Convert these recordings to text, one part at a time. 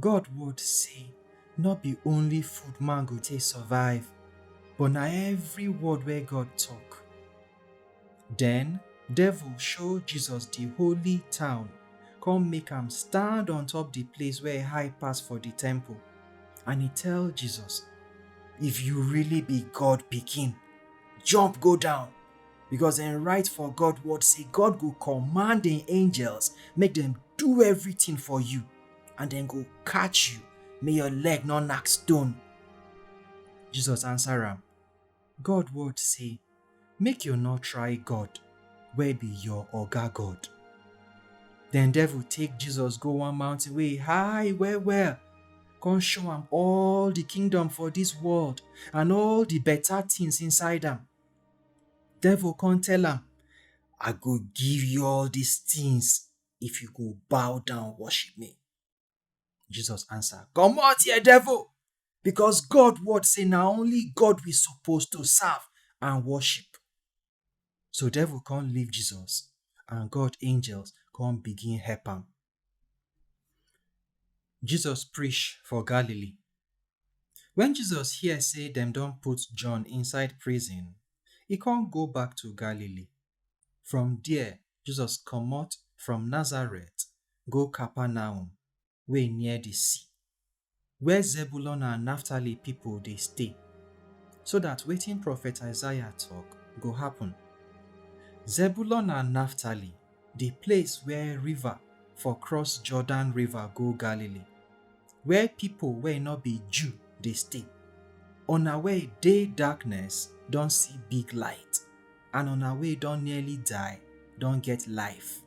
God word say no be only food man go take survive, but na every word wey God talk. Den devil show Jesus di holy town come make am stand on top di place wey high pass for di temple and e tell Jesus, If you really be God pikin, jump go down because dem write for God word say God go command im angels make dem do everything for you. and dem go catch you make your leg no knack stone. Jesus answer am, God word say, make you no try God wey be your oga God. Then devil take Jesus go one mountain wey high well well, come show am all the kingdom for this world and all the better things inside am. Devil come tell am, I go give you all these things if you go bow down worship me. Jesus answer, Comot here, devil! Because God word say na only God we suppose to serve and worship. So devil come leave Jesus and God angels come begin help am. Jesus preach for Galilee. When Jesus hear say dem don put John inside prison, e come go back to Galilee. From there, Jesus comot from Nazareth go Capernaum wey near the sea, where Zebulun and Naphtali people dey stay, so that wetin prophet Isaiah talk go happen. Zebulun and Naphtali, the place where river for cross Jordan river go Galilee, where people wey no be Jew dey stay. Una wey dey darkness don see big light. and una wey don nearly die don get life.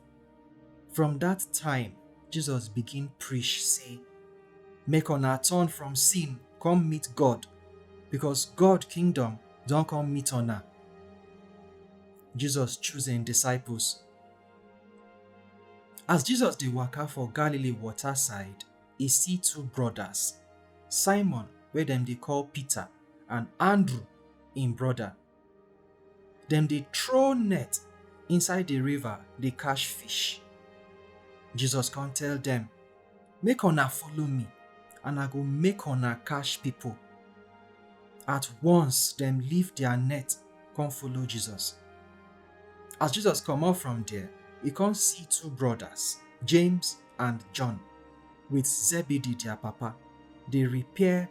From dat time, Jesus begin preach sey, Make una turn from sin come meet God, because God kingdom don come meet una. Jesus choose im disciples. As Jesus dey waka for Galilee water side, e see two brothers, Simon wey dem dey call Peter and Andrew im brother. Dem dey throw net inside the river dey catch fish. Jesus come tell dem, Make una follow me and I go make una catch people. At once, dem leave their net come follow Jesus. As Jesus comot from there, e come see two brothers, James and John, with Zebedee their papa, dey repair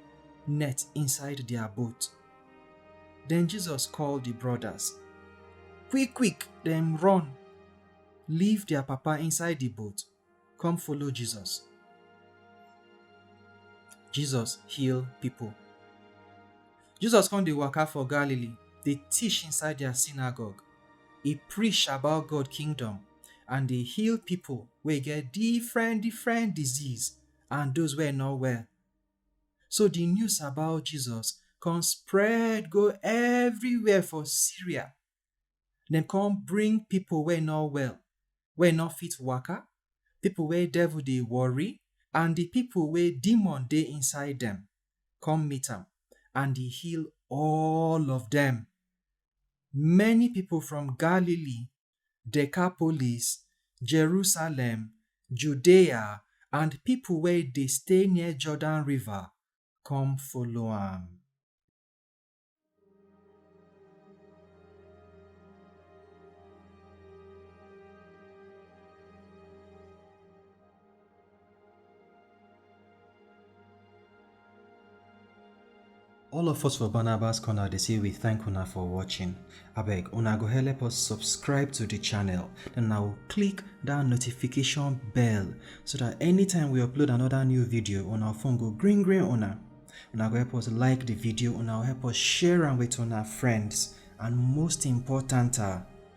net inside their boat. Then Jesus call di brodas. Quick quick dem run leave dia papa inside di boat come follow Jesus. Jesus heal pipo. Jesus come dey waka for Galilee dey teach inside dia synagogue. E preach about God kingdom and dey heal pipo wey get different different disease and those wey no well. So di news about Jesus come spread go everywhere for Syria. Dem come bring pipo wey no well, wey no fit waka, pipo wey devil dey worry, and di pipo wey demon dey inside dem come meet am, and e heal all of dem. Many pipo from Galilee Decapolis, Jerusalem, Judea, and pipo wey dey stay near Jordan River come follow am. All of us for Barnabas Corner dey say we thank una for watching. Abeg, una go help us subscribe to the channel. Then una go click that notification bell so that anytime we upload another new video, una phone go green green una. Una go help us like the video, una go help us share am with una friends, and most important, ah,